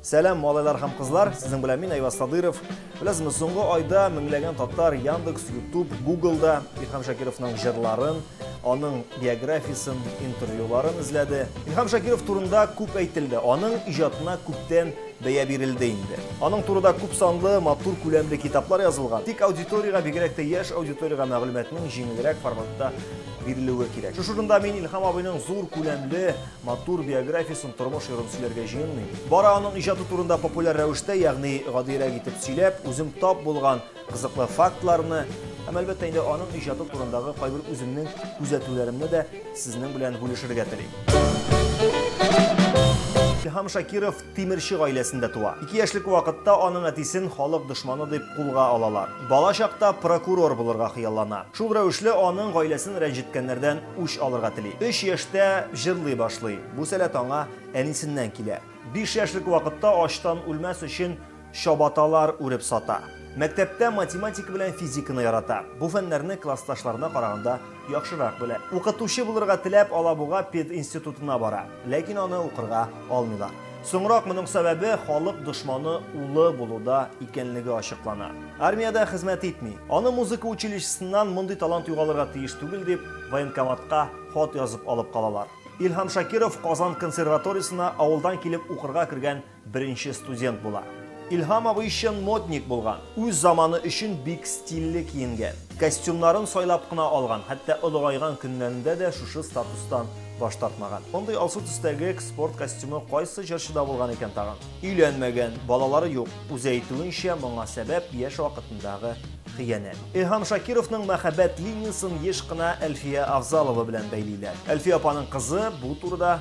Сәлам, малайлар һәм кызлар! Сезнең белән мин Айваз Садыров. Беләсезме, соңгы айда меңләгән татар Яндекс, Ютуб, Гуглда Илһам Шакировның җырларын, аның биографиясен, интервьюларын эзләде. Илһам Шакиров турында күп әйтелде, аның иҗатына күптән бәя бирелде инде. Аның турыда күп санлы, матур күләмле китаплар язылган. Тик аудиториягә, бигрәк тә яшь аудиториягә мәгълүматның җиңелрәк форматта бирелүе кирәк. Шушы урында мин Илһам абыйның зур күләмле Матур биографиясен тормыш йорын сөйләргә җыенмыйм. Бары аның иҗаты турында популяр рәвештә, ягъни гадиерәк итеп сөйләп, үзем тап булган кызыклы фактларны һәм, әлбәттә инде, аның иҗаты турындагы кайбер үземнең күзәтүләремне дә сезнең белән бүлешергә телим. Илһам Шакиров Тимерче гаиләсендә туа. Ике яшьлек вакытта аның әтисен халык дошманы дип кулга алалар. Бала чакта прокурор булырга хыяллана. Шул рәвешле аның гаиләсен рәнҗеткәннәрдән үч алырга тели. Өч яшьтә җырлый башлый. Бу сәләт аңа әнисеннән килә. Биш яшьлек вакытта ачтан үлмәс өчен Чабаталар үреп сата. Мәктәптә математика белән физиканы ярата. Бу фәннәрне классташларына караганда яхшырак белә. Укытучы булырга теләп, Алабуга пединститутына бара. Ләкин аны укырга алмыйлар. Соңрак моның сәбәбе халык дошманы улы булуда икәнлеге ачыклана. Армиядә хезмәт итми. Аны музыка училищесыннан мондый талант югалырга тиеш түгел дип, военкоматка хат язып алып калалар. Илһам Шакиров Казан консерваториясенә авылдан килеп укырга кергән Беренче студент була. Илһам абый чын модник булган. Үз заманы өчен бик стильле киенгән. Костюмнарын сайлап кына алган, хәтта олыгайган көннәрендә дә шушы статустан баш тартмаган. Мондый алсу төстәге спорт костюмы кайсы җырчыда булган икән тагын? Өйләнмәгән, балалары юк. Үзе әйтүенчә, моңа сәбәп яшь вакытындагы хыянәт. Илһам Шакировның мәхәббәт линиясен еш кына Әлфия Авзалова белән бәйлиләр. Әлфия апаның кызы бу турыда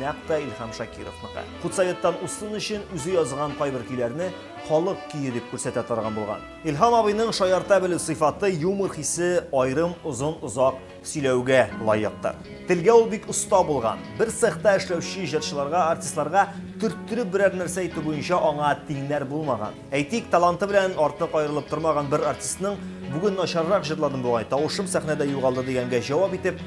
Нәкъ тә Илһам Шакировныкы. Худсоветтан усын өчен үзе язган кайбер көйләрне халык көе дип күрсәтә торган булган. Илһам абыйның шаярта белү сыйфаты, юмор хисе аерым озын-озак сөйләүгә лаектыр. Телгә ул бик оста булган. Бер цехта эшләүче җырчыларга, артистларга төрттереп берәр нәрсә әйтү буенча аңа тиңнәр булмаган. Әйтик, таланты белән артык аерылып тормаган бер артистның, Бүген начаррак җырладым бугай, тавышым сәхнәдә югалды дигәнгә җавап итеп,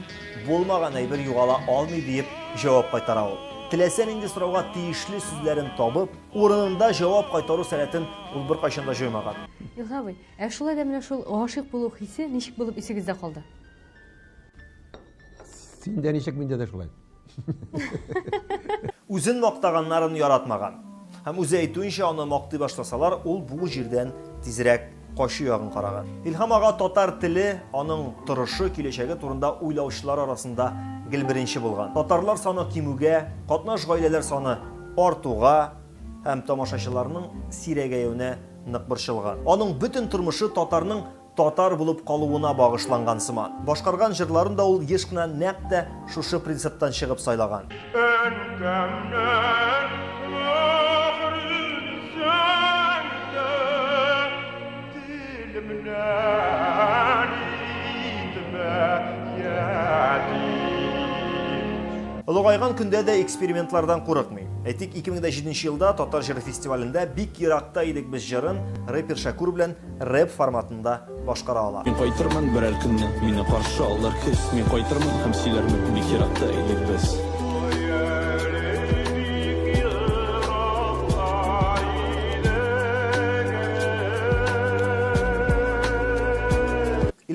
Булмаган әйбер югала алмый, диеп җавап кайтара ул. Теләсә нинди сорауга тиешле сүзләрен табып, урынында җавап кайтару сәләтен ул беркайчан да җоймаган. Илһам абый, ә шулай да менә шул гашыйк булу хисе ничек булып исегездә калды? Синдә ничек, миндә дә шулай. Үзен мактаганнарын яратмаган. Һәм үзе әйтүенчә, аны мактый башласалар, ул бу җирдән тизрәк качу ягын караган. Илһам ага татар теле, аның торышы, киләчәге турында уйлаучылар арасында гел беренче булган. Татарлар саны кимүгә, катнаш гаиләләр саны артуга һәм тамашачыларның сирәгәюенә нык борчылган. Аның бөтен тормышы татарның Татар булып калуына багышланган сыман. Башкарган җырларын да ул еш кына нәкъ тә шушы принциптан чыгып сайлаган. Әнкәмнән мөһерен сәндә, Телемнән итмә ятим. Олыгайган көндә дә экспериментлардан курыкмый. Әйтик, 2007 нче елда Татар җыры фестивалендә Бик еракта идек без җырын рэпер Шәкүр белән рэп форматында башкара ала. Мин кайтырмын берәр көнне, мине каршы алыр көз, мин кайтырмын һәм сөйләрмен, бик еракта идек без.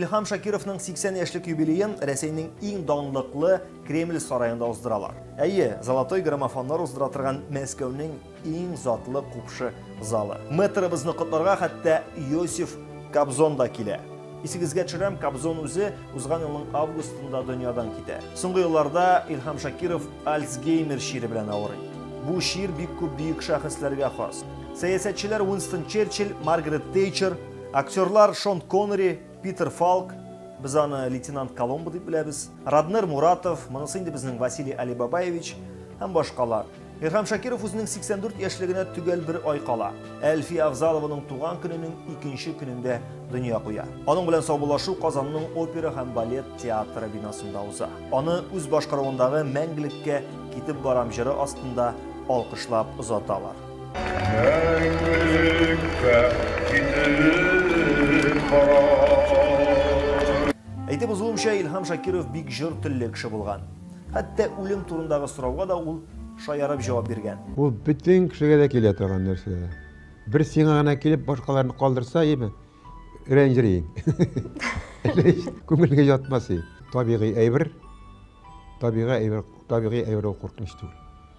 Илһам Шакировның 80 яшьлек юбилеен Рәсәйнең иң данлыклы Кремль сараенда уздыралар. Әйе, золотой граммофоннар уздыра торган Мәскәүнең Иң затлы купшы залы. Мэтрыбызны котларга хәтта Иосиф Кобзон да килә. Исегезгә төшерәм, Кобзон үзе узган елның августында дөньядан китә. Соңгы елларда Илһам Шакиров Альцгеймер чире белән авырый. Бу чир бик күп бөек шәхесләргә хас. Сәясәтчеләр Уинстон Черчилль, Маргарет Тейчер, актерлар Шон Коннери, Питер Фалк, без аны лейтенант Коломбо дип беләбез, Раднер Муратов, монысы инде безнең Василий Алибабаевич һәм башкалар. Илһам Шакиров үзенең 84 яшьлегенә төгәл бер ай кала, Әлфия Авзалованың туган көненең икенче көнендә дөнья куя. Аның белән саубуллашу Казанның опера һәм балет театры бинасында уза. Аны үз башкаруындагы Мәңгелеккә китеп барам җыры астында алкышлап озаталар. Мәңгелеккә китеп барам. Әйтеп узуымча, Илһам Шакиров бик җор телле кеше булган. Хәтта үлем турындагы сорауга да ул шаярып җавап биргән. Ул бөтен кешегә дә килә торган нәрсә. Бер сиңа гына килеп, башкаларны калдырса, яме, рәнҗери. Күңелгә ятмас. Табигый әйбер, табигый әйбер, табигый әйбер ул куркыныч түгел.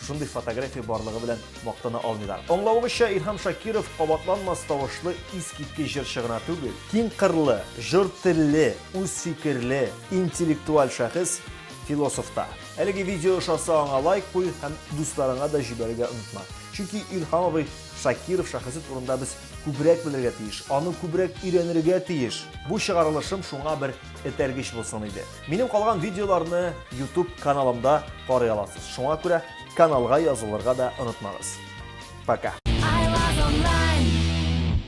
Шушындый фотография барлыгы белән мактана алмыйлар. Аңлавыгызча, Илһам Шакиров кабатланмас тавышлы искиткеч җырчы гына түгел. Киң кырлы, җор телле, үз фикерле, интеллектуаль шәхес, философ та. Әлеге видео ошаса, аңа лайк куй һәм дусларыңа да җибәрергә онытма. Чөнки Илһам абый Шакиров шәхесе турында без күбрәк белергә тиеш, аны күбрәк өйрәнергә тиеш. Бу чыгарылышым шуңа бер этәргеч булсын иде. Минем калган видеоларны YouTube каналымда карый аласыз. Шуңа күрә каналга язылырга да онытмагыз. Пока.